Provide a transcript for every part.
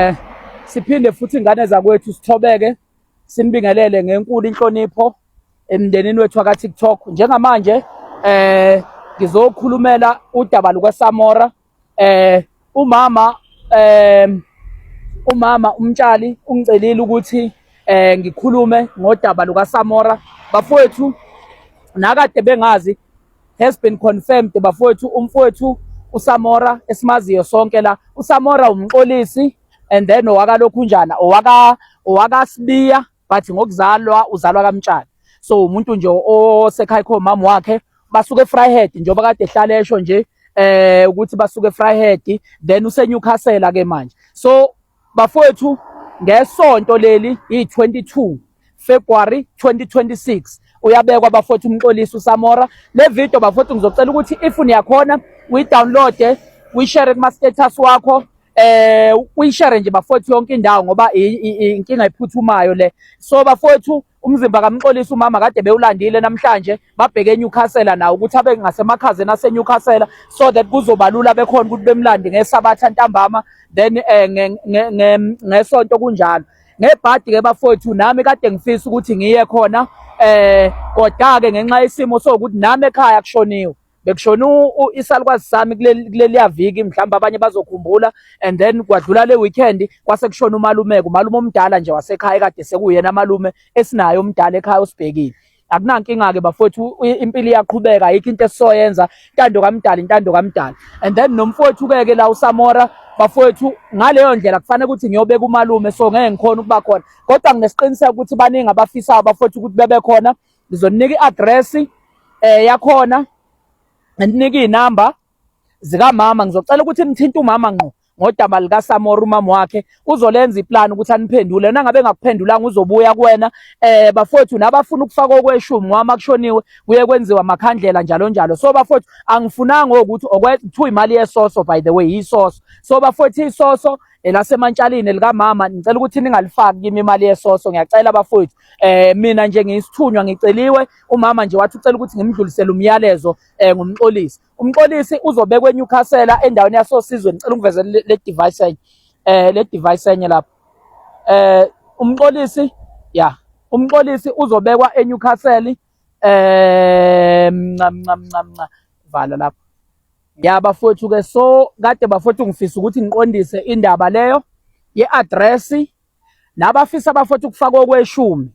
Eh, siphinde futhi ingane zakwethu sithobeke sinibingelele ngenkulu inhlonipho emndenini wethu waka TikTok njengamanje eh ngizokhulumela udaba luka Samora eh umama eh umama umtshali ungicelile ukuthi eh ngikhulume ngodaba luka Samora bafowethu nakade bengazi has been confirmed bafowethu umfowethu uSamora esimaziyo sonke la uSamora umxolisi and then owakalokhunjana owaka owakasibiya but ngokuzalwa uzalwa kamtshana so umuntu nje osekhaya kho mama wakhe basuke eFryhead njengoba kade ehlala esho nje eh ukuthi basuke eFryhead then useNewcastle ke manje so Bafowethu ngesonto leli yi-22 February 2026 uyabekwa bafowethu umxolisi uSamora le video bafowethu ngizocela ukuthi if niyakhona uyi-downloade uyishare kuma-status wakho eh uyishare nje bafowethu yonke indawo ngoba inkinga ephuthumayo le so bafowethu Umzimba kaMxolisi umama kade bewulandile namhlanje babheke eNewcastle nawo ukuthi abe ngasemakhazeni aseNewcastle so that kuzoba lula bekhona ukuthi bemlande ngesabatha ntambama then eh, ngesonto kunjalo ngebhadi ke bafowethu nami kade ngifisa ukuthi ngiye khona eh kodwa ke ngenxa yesimo sokuthi nami ekhaya kushoniwe bekushona isalukwazi sami kuleliya viki mhlawumbe abanye bazokhumbula and then kwadlula le weekend kwase kushona umalumeke umalume omdala nje wasekhaya kade sekuyena malume esinayo omdala ekhaya osibhekile akunankinga-ke bafowethu impilo iyaqhubeka ayikho into esisoyenza intando kamdala intando kamdala and then nomfowethu-ke ke la usamora bafowethu ngaleyo ndlela kufanele ukuthi ngiyobeka umalume so ngeke ngikhona ukuba khona kodwa nginesiqiniseko ukuthi baningi abafisayo bafowethu ukuthi bebe khona ngizoninika i-address eh yakhona nginika izinamba zikamama ngizocela ukuthi nithinte umama ngqo ngodaba likaSamora umama wakhe uzolenza iplan ukuthi aniphendule yena ngabe ngakuphendulanga uzobuya kuwena eh bafowethu nabafuna ukufaka okweshumi ngoba makushoniwe kuye kwenziwa makhandlela njalo njalo so bafowethu angifunanga ukuthi okwethu imali yesoso by the way yisoso so bafowethu isoso elasemantshalini likamama ngicela ukuthi ningalifaki kimi imali yesoso ngiyacela bafowethu eh mina nje ngiyisithunywa ngiceliwe umama nje wathi ucela ukuthi ngimdlulisele umyalezo eh ngumxolisi umxolisi uzobekwa eNewcastle endaweni yasosizwe ngicela ungiveze le device enye eh le device enye lapha eh umxolisi ya umxolisi uzobekwa eNewcastle eh ncam ncam ncam vala lapha ya bafowethu ke so kade bafowethu ngifisa ukuthi ngiqondise indaba leyo ye-address nabafisa bafothu ukufaka okweshumi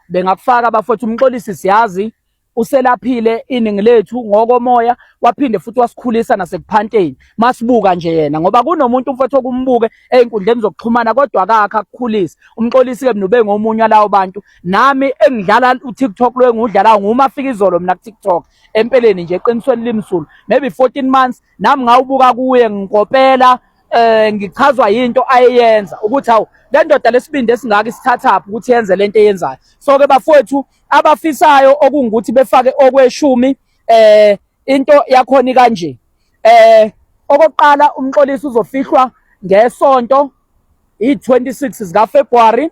bengakufaka bafothu umxolisi siyazi uselaphile iningi lethu ngokomoya waphinde futhi wasikhulisa nasekuphanteni masibuka nje yena ngoba kunomuntu umfowethu okumbuke ezinkundleni zokuxhumana kodwa akakho akukhulisa umxolisi ke mnube ngomunye lawo bantu nami engidlala uTikTok lo engudlala nguma afika izolo mina kuTikTok empeleni nje eqinisweni limsulu maybe 14 months nami ngawubuka kuye ngikopela eh ngichazwa yinto ayeyenza ukuthi hawu le ndoda lesibindi esingaka isithathaphi ukuthi yenze lento eyenzayo so ke bafowethu abafisayo okungukuthi befake okweshumi eh into yakhona kanje eh okokuqala umxolisi uzofihlwa ngesonto i26 zika February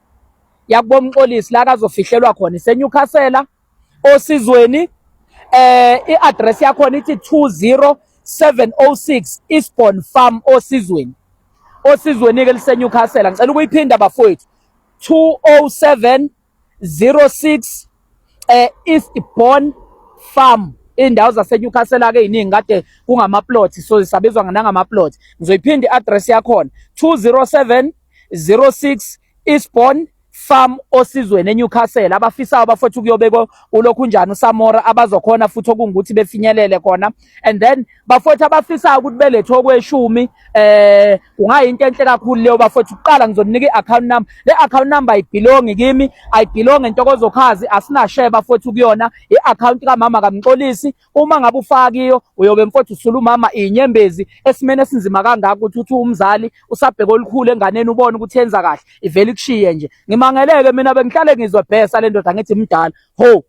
yakubo Mxolisi la kazofihlelwa khona iseNewcastle osizweni eh iaddress yakhona ithi 20706 Eastbourne Farm osizweni osizweni ke liseNewcastle ngicela ukuyiphinda bafowethu 20706 eh East Born Farm indawo zaseNewcastle ake iningi kade kungama plots so sabizwa nangama plots ngizoyiphinda iaddress yakhona 207 06 Eastbourne farm osizweni eNewcastle abafisayo bafethu kuyobekwa ulokhu njani uSamora abazokhona futhi okungukuthi befinyelele khona and then bafowethu abafisayo ukuthi belethwe okweshumi eh kungayinto enhle kakhulu leyo bafowethu uqala ngizoninika i-account number le account number ayibhilongi kimi ayibhilongi ntokozo khazi asinashare bafowethu kuyona i-account kamama kamxolisi uma ngabe ufakiyo uyobe mfowethu usula umama inyembezi esimene esinzima kangaka ukuthi uthi umzali usabheka olukhulu enganeni ubone ukuthi yenza kahle ivele ikushiye nje ngimangeleke mina bengihlale ngizwe bhesa le ndoda ngithi mdala ho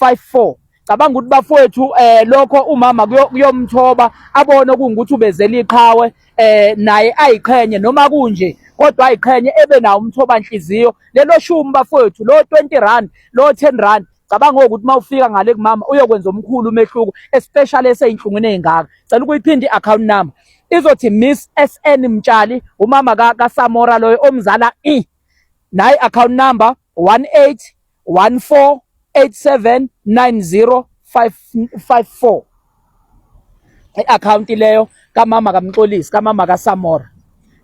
54 cabanga ukuthi bafowethu eh lokho umama kuyomthoba abone ukuthi ubezela iqhawe eh naye ayiqhenye noma kunje kodwa ayiqhenye ebe nawo umthoba nhliziyo lelo shumi bafowethu lo 20 rand lo 10 rand cabanga ukuthi uma ufika ngale kumama uyokwenza omkhulu umehluko especially eseyinhlungwini ezingaka cela ukuyiphinda i-account number izothi miss sn mtshali umama kasamora loyo omzala i nayi account number 18 14879054 i-akhawunti leyo kamama kaMxolisi kamama kaSamora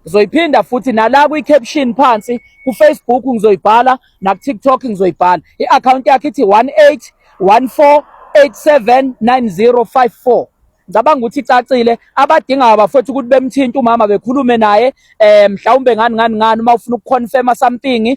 ngizoyiphinda futhi nala kwi-caption phansi kufacebook ngizoyibhala nakutiktok ngizoyibhala i-akhawunti yakhe ithi 18 14 879054 ngicabanga ukuthi icacile abadingayo bafethu ukuthi bemthinte umama bekhulume naye um mhlawumbe ngani ngani ngani uma ufuna ukuconfirma something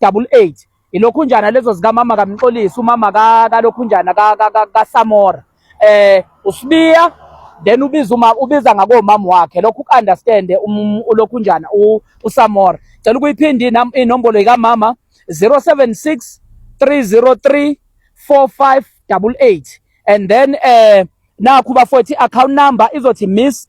double eight ilokhunjana lezo zikamama kamxolisi umama kalokhunjana kasamora eh usibiya then ubiza uma ubiza ngakomama wakhe lokho ukunderstand um, ulokhunjana usamora cela ukuyiphinda inombolo ikamama 076 303 4588 and then eh nakhu bafowethu account number izothi miss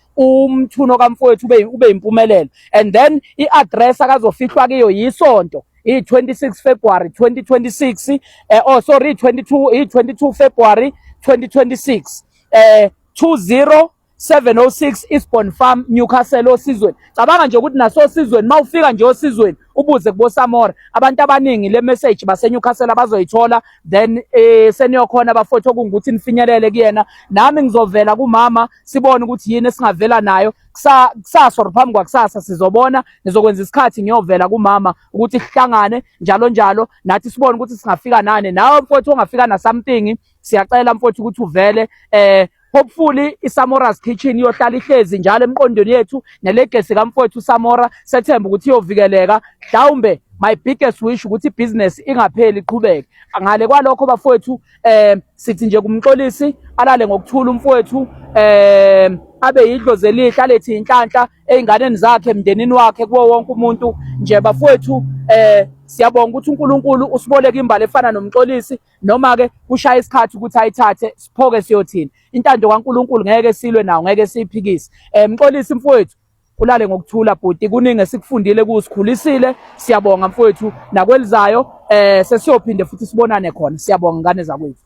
umthuno kamfowethu ube ube impumelelo and then iaddress akazofihlwa kiyo yisonto i-26 February 2026 eh, oh sorry 22 i-22 February 2026 eh 20 706 Eastbourne Farm Newcastle osizweni cabanga nje ukuthi naso osizweni mawufika nje osizweni ubuze kubo Samora abantu abaningi le message base Newcastle abazoyithola then eh seniyokhona bafowethu okungukuthi nifinyelele kuyena nami ngizovela kumama sibone ukuthi yini esingavela nayo kusasa or phambi kwakusasa sizobona ngizokwenza isikhathi ngiyovela kumama ukuthi sihlangane njalo njalo nathi sibone ukuthi singafika nani nawe mfowethu ongafika na something siyacela mfowethu ukuthi uvele eh hopefully isamora's kitchen iyohlala ihlezi njalo emqondweni yethu nelegesi kamfowethu samora sethemba ukuthi iyovikeleka mhlawumbe my biggest wish ukuthi ibhizinesi ingapheli iqhubeke ngale kwalokho bafowethu eh sithi nje kumxolisi alale ngokuthula umfowethu eh abe yidlozi elihle alethi inhlanhla einganeni zakhe emndenini wakhe kuwo wonke umuntu nje bafowethu eh siyabonga ukuthi uNkulunkulu usiboleka imbali efana nomxolisi noma ke kushaya isikhathi ukuthi ayithathe siphoke siyothini intando kaNkulunkulu ngeke silwe nawo ngeke siyiphikise eh mxolisi mfowethu Ulale ngokuthula bhuti kuningi esikufundile kusikhulisile siyabonga mfowethu nakwelizayo eh sesiyophinde futhi sibonane khona siyabonga ngane zakwethu